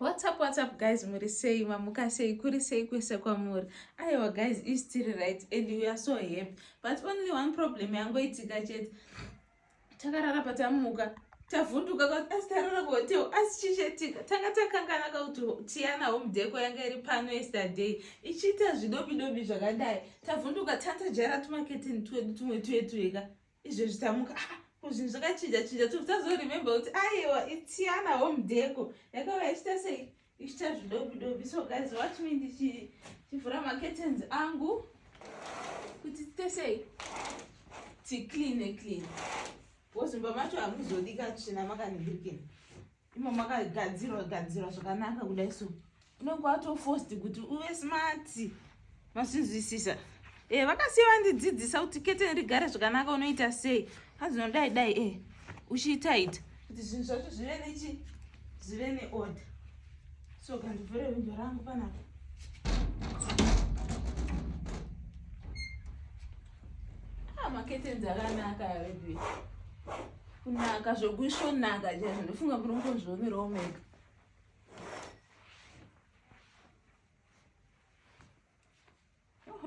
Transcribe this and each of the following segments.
What's up, what's up guys, muri sei, mamuka sei, kuri sei kwese kwamuri. Aiwa guys, is still right and we are so happy. But only one problem yangoitika chete. Takarara patamuka, tavhunduka kuti asi tarara kuhotel, asi chichetika. Tanga takangana kuti Tiana home deco yanga iri pano yesterday. Ichiita zvidobidobi zvakadai. Tavhunduka tanta jara tumaketeni twedu tumwe twetu ega. izvezvi tamuka ah, ko zvinhu zvakachinja chinja to tazoremembe kuti aiwa itiana home deko yakava ichita sei ichita zvidobi dobi so guys watch me ndichivhura macurtains angu kuti tite sei ticleane clean bcause mumba macho hamuzodika tsvina makanibirikini imo makagadzirwa gadzirwa zvakanaka kudai so unenge watofost kuti uve smart masinzwisisa e eh, vakasiya vandidzidzisa kuti kete ndigare zvakanaka unoita sei azvinodai dai e eh, uchiitaita kuti zvinhu zvacho zvive nechi zvive neorder so kandivhure windo rangu panapa ah, maketenzi akanaka veduwe kunaka zvokuisvonaka chaizvo ndofunga kuti unozviomerawo mega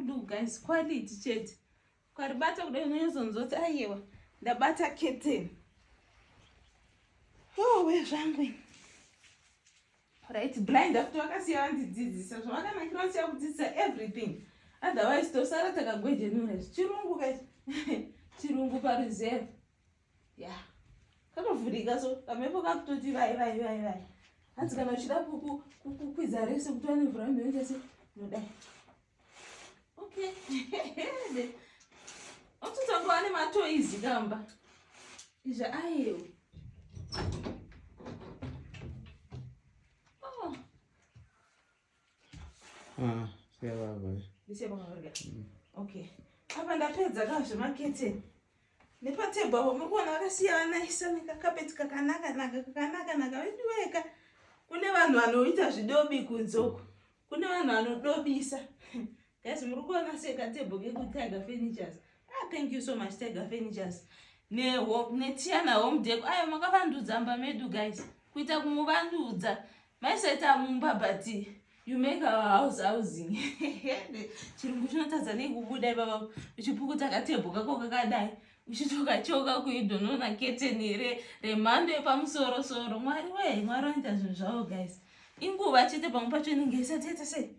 look guys quality chete ukaribata kuda unonyazonzoti ayewa ndabata keteni owe zvangu ini right blind after vakasiya vandidzidzisa zvavakanakira vasiya kudzidzisa everything otherwise tosara takagwejenura izvi chirungu ka chirungu pareserve ya yeah. katovhurika so kamhepo kakutoti vai vai vai vai hanzi kana uchida kukwidza rese kuti vane mvura mheochese nodai Okay. Ototangwa ne matoizi gamba. Izva ayo. Oh. Ah, siya baba. Ndisiya baba. Mm. Okay. Apa ndapedza ka zvemakete. Nepatebho apo muri kuona vakasiyana isa nekakapeti kakanaka naka kakanaka naka veduweka. Kune vanhu vanoita zvidobi kunzoko. kune vanhu vanodobisa guys muri kuona sei katebho kekutiger furnitures ah thank you so much tiger furnitures netiana home deko ayo makavandudza mba medu guys kuita kumuvandudza maiseta mumba but you make our house housing chirungu chinotadza nekubuda ipapa uchipukuta katebho kako kakadai uchitokachoka kuidonoona keteni remhando yepamusorosoro mwari wee mwari oita zvinhu zvavo guys inguva chete pamwe pacho inenge isati yaita sei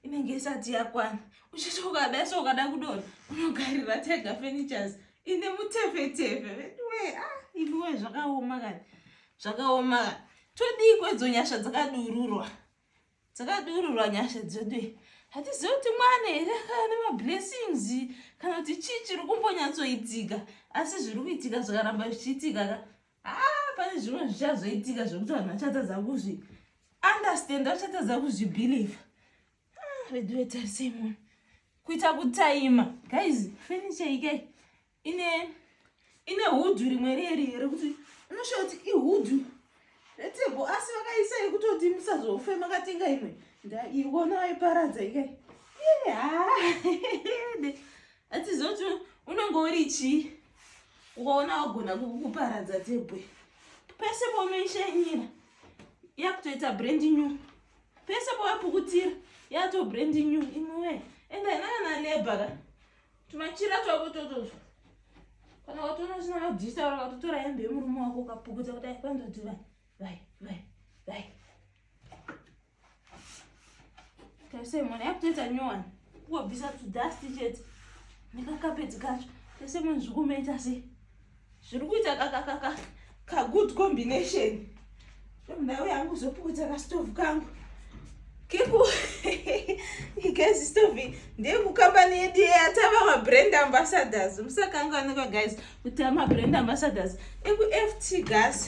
inenge isati yakwana uchiti ukadai so ukada kudona unogarira tega furnitures ine mutefetefe veduwe a ah, imiwe zvakaoma kani zvakaoma kani todii kwedzo nyasha dzakadururwa dzakadururwa nyasha dzedu hatizivi kuti mwana here kana nemablessings kana kuti chii chiri kumbonyatsoitika asi zviri kuitika zvakaramba zvichiitika ka haa pane zvimwe zvichazoitika zvekuti vanhu vachatadza kuzvi understand vachatadza kuzvibelieve ah, veduetarisei munhu kuita kutaima guys furniture ikai ine ine hudhu rimwe reri rekuti unoshaa kuti ihudhu retebo asi vakaisa yekutoti musazofe makatenga imwe ndaiona vaiparadza ikai haa atizoti unenge uri chii ukaona wagona kukuparadza dzebwe pese paunoishanyira yakutoita brand new pese pawapukutira yato brand new imwe ende inana labor ka tumachira twako totozvo kana watoona zvina mabdisa ora watotora hembe yemurume wako ukapukuta kudai kwanzoti vai vai vai vai Tese mwana yakutoita nyowani kungobvisa tudasti chete nekakapedzi kacho tese munhu zviri kumaita sei zviri kuita kakakaka kagood combination ndau yangu zopukudza kastove kangu keku igezi stove ndeyekukambani yedu yeyatava mabrand ambassadors musakanganwa guys kuti amabrand ambassadors ekuft gas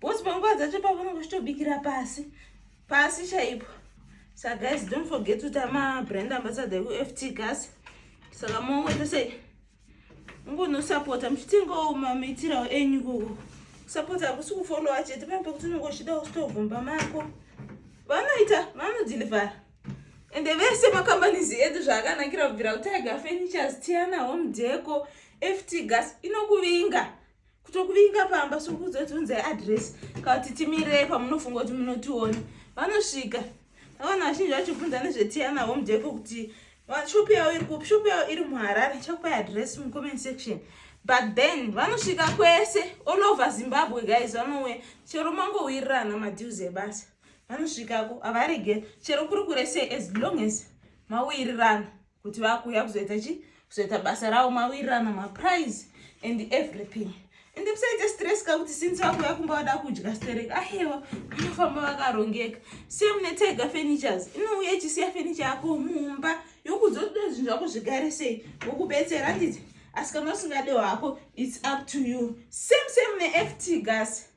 Boss panguva dzacho pavanenge vachitobikira pasi pasi chaipo so guys don't forget kuti amabrand ambassador ekuft gas saka mongoita sei ungonosapota muchitengawo mamiitirawo enyu ikoko kusapota hakusi kufolowa chete pane pekuti unenge uchida kusitovhumba mako vanoita vanodhilivhara ende vese makambanizi edu zvaakanakira kubvira kutiger furnitures tiana home deco ft gas inokuvinga kutokuvinga pamba sokuzotiunzai adress kana kuti timirei pamunofunga kuti munotiona vanosvika avana vazhinji vachibvunza nezvetiana home deco kuti shop yavo iri kupi shop yavo iri muharare chakupai adress mucomment section but then vanosvika kwese all over zimbabwe guys vanouya chero mangowirirana madeals ebasa vanosvikako havarege chero kuri kuresei as long as mawirirana kuti vakuuya kuzoita chi kuzoita basa ravo mawirirana maprize and everything ende musaite stress ka kuti since vakuuya kumba vada kudya sterek ahewa vanofamba vakarongeka same netega furnitures inouya ichisiya furniture yako mumba yokuzotoda zvinhu zvako zvigare sei vokubetsera handiti asi kana usingade hwako its up to you same same neft gas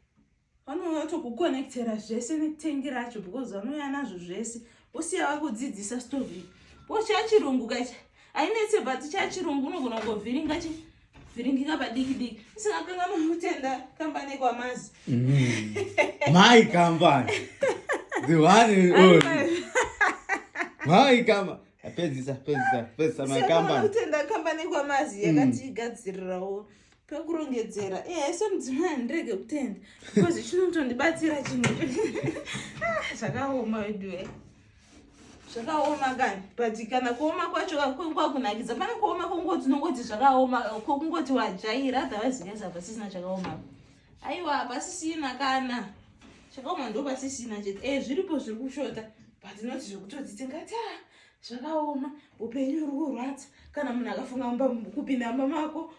vanouya vatokukonekitera zvese netengi racho because vanouya nazvo zvese vosiya vakudzidzisa stovi bo chachirungu kachi ainetse but chachirungu unogona kungovhiringa chi vhiringika padiki diki isingakanga mamutenda kambani kwamazi mm. mai kambani the one and only mai kambani pedzisa pedzisa pedzisa mai kambani utenda kambani kwamazi mm. yakatigadzirirawo pekurongedzera eh, haisi mudzimai handirege kutenda because chinotondibatsira chinhu ah, zvakaoma weduwe zvakaoma kani but kana kuoma kwacho kwakunakidza pane kuoma kwongoti unongoti zvakaoma kwokungoti wajaira otherwise yes hapasisina chakaoma aiwa hapasisina kana chakaoma ndo pasisina chete e zviripo zviri kushota but not zvekutodziti ngati a ah, zvakaoma upenyu uri kurwadza kana munhu akafunga kupinda mba mako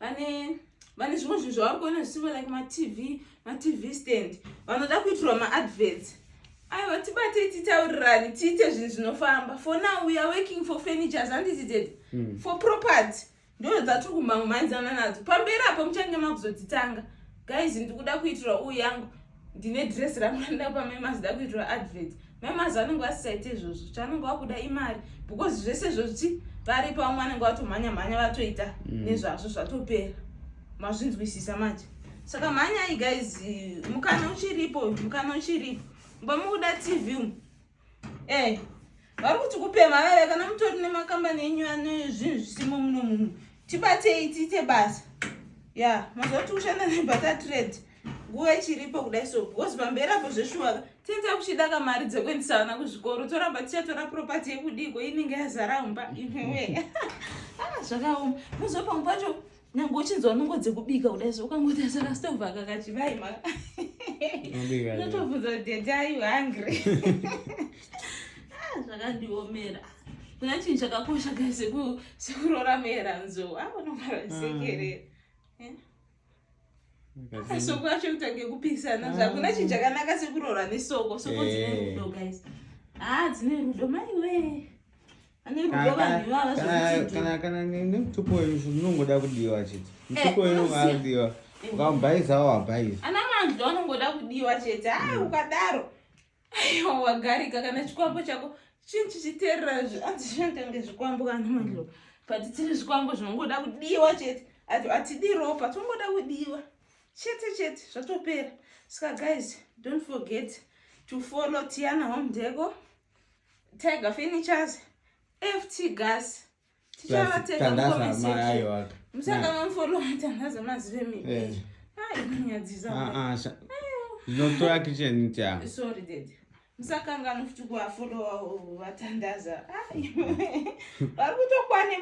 vane vane zvimwe zvinhu zvavari kuona zvisingo like matv matv stand vanoda kuitirwa maadverts aiwa tibatei titaurirani tiite zvinhu zvinofamba for now weare working for furnitures handiti tete mm. for property ndo dzatiri kumhango mhaidzana nadzo pamberi apo muchange makuzodzitanga guys ndikuda kuitirwa uyu yangu ndine dress rangu randida kupa mai mazida kuitirwa advert mai mazi vanenge vasisaite izvozvo chaanenge wakuda imari because zvese zvozvi vari pamwe vanenge vatomhanya mhanya vatoita mm. nezvazvo zvatopera mazvinzwisisa manje saka mhanyai guys mukana uchiripo mukana uchiripo mba mukuda tv umu Eh, vari kuti kupemha vaya kana mutori nemakambani enyu ane zvinhu zvisimo muno muno tibatei tiite basa ya yeah, mazuva kuti kushanda nebata trade nguva ichiripo kudai so because pamberi apo zveshuwaka tinza kuchida kamari dzekuendisa vana kuzvikoro toramba tichatora propati yekudiko inenge yazara umba iwewe ah, zvakaoma muzopa mukwacho nyange uchinzwa nungo dzekubika kudai zvo ukangotarisa kastova kakachivai ma notobvunza kuti dai u hungry ah, zvakandiomera kuna chinhu chakakosha kai sekurora meranzo avanomaraisekerera ah, ah. eh? soko acho kutange kupisana zvakuna chinhu chakanaka sekurora nesoko soko dzine eh. rudo guys haa dzine rudo maiwee kana nemutupo wenyu zvinongoda kudiwa chete mutupo wenyu ungadiwa ukamubhaiza wabhaiza ana manzwi anongoda kudiwa chete a ah, ukadaro aiwa wagarika kana chikwambo chako chinhu chichiterera zvi anzi zvinotenge zvikwambo kana mandlo but tiri zvikwambo zvinongoda kudiwa chete ati atidi ropa tinongoda kudiwa chete chete zvatopera saka guys don't forget to follow tiana home deko tiger furnitures ft gas zvinotora kitchen cha sorry dad musakangana kuti kuafolowa vatandaza vari kutokwane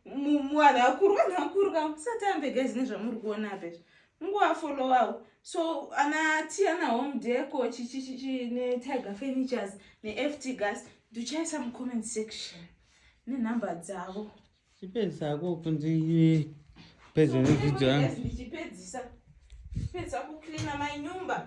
muvanhu vakuru vanhu vakuru ka musatambe gezi nezvamuri kuona apezvo Nguva followawo. So ana Tiana Home Deco chichichichi ne Tiger Furnitures ne FT Gas ndichaisa mu comment section ne number dzavo. Chipedza ko kunzi pedza ne video yangu. Ndichipedzisa. Chipedza ku cleaner my nyumba.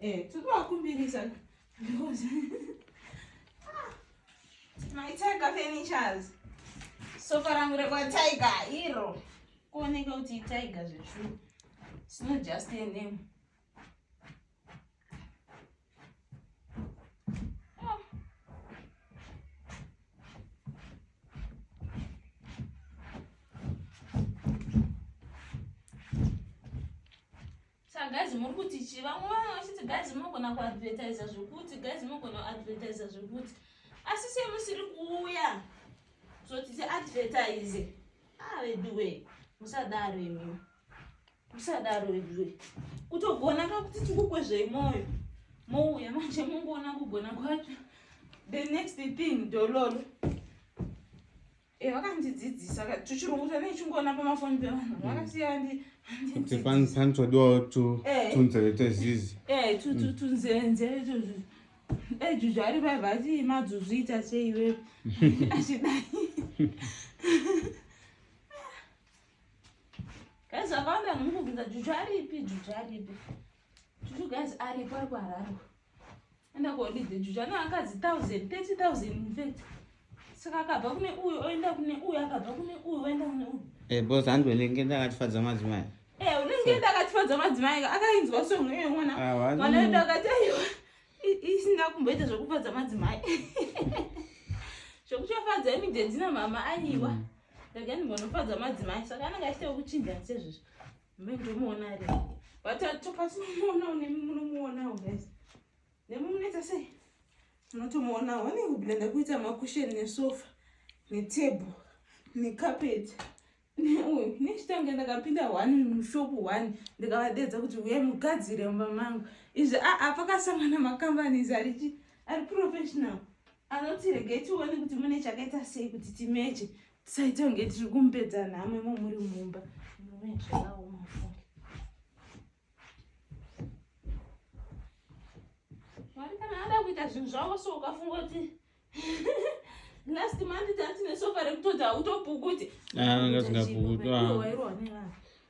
Eh, tikuvakumbirisa because my tiger furnitures sofa rangu rekwatiger iro kuoneka kuti itiger zvechuu it's not just a name Sa guys muri kuti chi vamwe vanhu vachiti guys munogona kuadvertisa zvekuti guys munogona kuadvertisa zvekuti asi semusiri kuuya zoti tiadvertise ah veduwe musadaro imi musadaro veduwe kutogona ka kuti tikukwezvei mwoyo mouya manje mungoona kugona kwacho the next thing dololo Eh, vakandidzidzisa ka tuchirungu tane chingoona pamafoni pevanhu mm. vakasiya kuti panotsodiwawo eh. tunzeve twezizi eh, mm. tunzenze ejuju ari vaiva ati madzuzu ita seiwe achidai guys akawanda nomukubvunza juju aripi juju aripi juju guys aripo ari kuhararwa enda kuholiday juju ane vakadzi 1000 30000 infact saka akabva kune uyu oenda kune uyu akabva kune uyu oenda kune uyu eh, bos handi unenge ndakatifadza madzimai eh, unenge ndakatifadza madzimai akainzwa songo iye mwana mwana wedu akati aiwa isina kumboita zvekufadza madzimai zvekuchafadza imidedzina mama aiwa mm. rega ndimbonofadza madzimai saka anenge achitakuchinja sezvezvo Ndomuona ri. Vatatu patinomuona unemi munomuonawo guys. Nemi munoita sei? Munotomuonawo. Vane kubila ndakuita makusheni nesofa netable nekapeti neuyu nechitange ndakapinda one mushopu one ndikavadedza kuti uyai mugadzire mumba mangu izvi aa ah, ah, pakasangana macompanies arichi ari professional anoti regai tione kuti mune chakaita sei kuti timeche tisaita kunge tiri kumupedza nhamo imo muri mumba mwari kana ada kuita zvinhu zvavo so ukafunga kuti last month tatine sofa rekutoda utopukuti ah, anga zingapukutwa ah.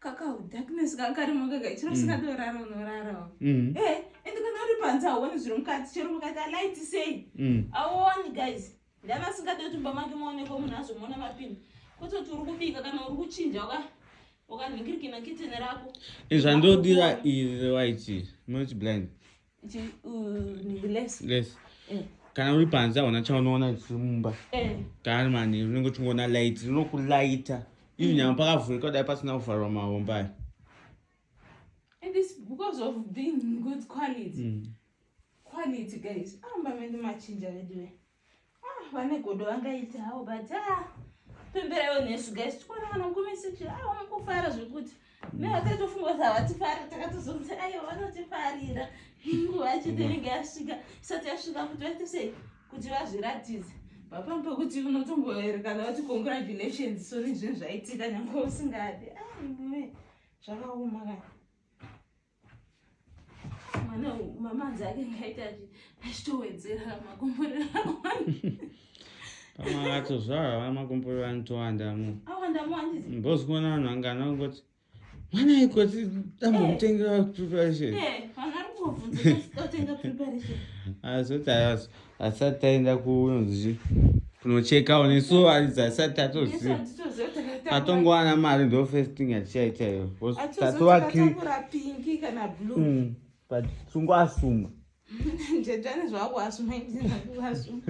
kakau darkness kakarimo kaka chiro sikatorara mm. unorarawo mm. eh, ende kana uri panze hauoni zviri mukati chero mukaita light sei mm. auoni guys ndavasingade kuti mba make maonekwa munhu azomona mapinda kototi uri kubika kana uri kuchinja waka wakanhingirikina kitene rako zvandodira iri right not blind Eh. kana uri panze hauna chaunoona zvisiri mumba eh. kana manheru unenge uchingoona light rinokulaita izvi nyama pakavhurika kudai pasina kuvharwa mahomba aya mm. quality guys aramba mende machinja veduwe Ah, vane godo vangaita hawo but ah, pemberaiwo nesu guys tikuona kana mukomesiti awo ah, mukufara zvekuti ne vakatofunga kuti havatifari takatozonzi aiwa vanotifarira nguva chete inenge yasvika isati yasvika kuti vaite sei kuti vazviratidze papambi pekuti unotomboerekana vati congratulations so nezvinhu zvaitika nyange usingadi aiwe zvakaoma kana mwana mama anzi ake ngaita achitowedzera makomborero pamwe acho zvava makomborero anotowanda mu mbozi kuona vanhu vangana kungoti mwana ikoti dambomutengera preparation azoti ayazo asati aenda kunonzi kunochekawo nesu aridzi asati atoziva atongowana mari ndo first thing atichaita iyo mm, but sungu asuma ndedane zvako asuma asuma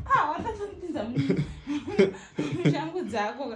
ah, watatondipinza mushangu dzako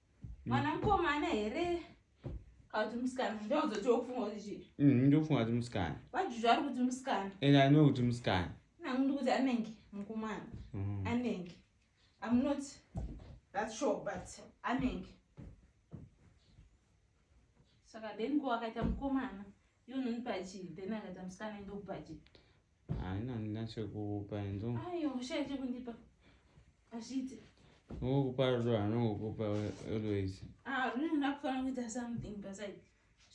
mwana mukomana here kana kuti musikana ndozoti wokufunga kuti chii mm, ndokufunga kuti musikana vajuju ari kuti musikana and i know kuti musikana nangu ndi kuti anenge mukomana mm. anenge i'm not that sure but anenge saka then ko akaita mukomana Iwe unonipa chii? Then akati musikana ndokupa chii? Haina ndinachokupa enzo. Ayo ushaya chekundipa. Azviite. Ngokupa rudo anongokupa always. Ah, rudo unakufanira kuita something paside.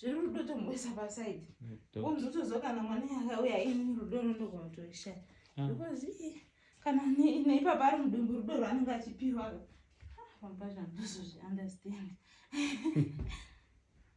Zverudo tomboisa paside. Womzotozo kana mwana yakauya ini rudo rondogona kutoishaya. Ah. Because eh, kana neipapa ari mudumbu rudo rwaanenge achipiwa. Ah, pamba zvandozozvi understand.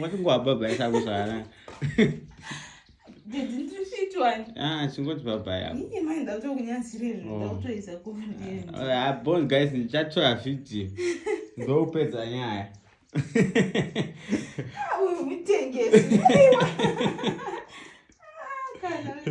vatingoabhabhaisakuzvana chingoti bhabhayabon guys ndichatora vhidhiyo ndokupedza nyaya ah,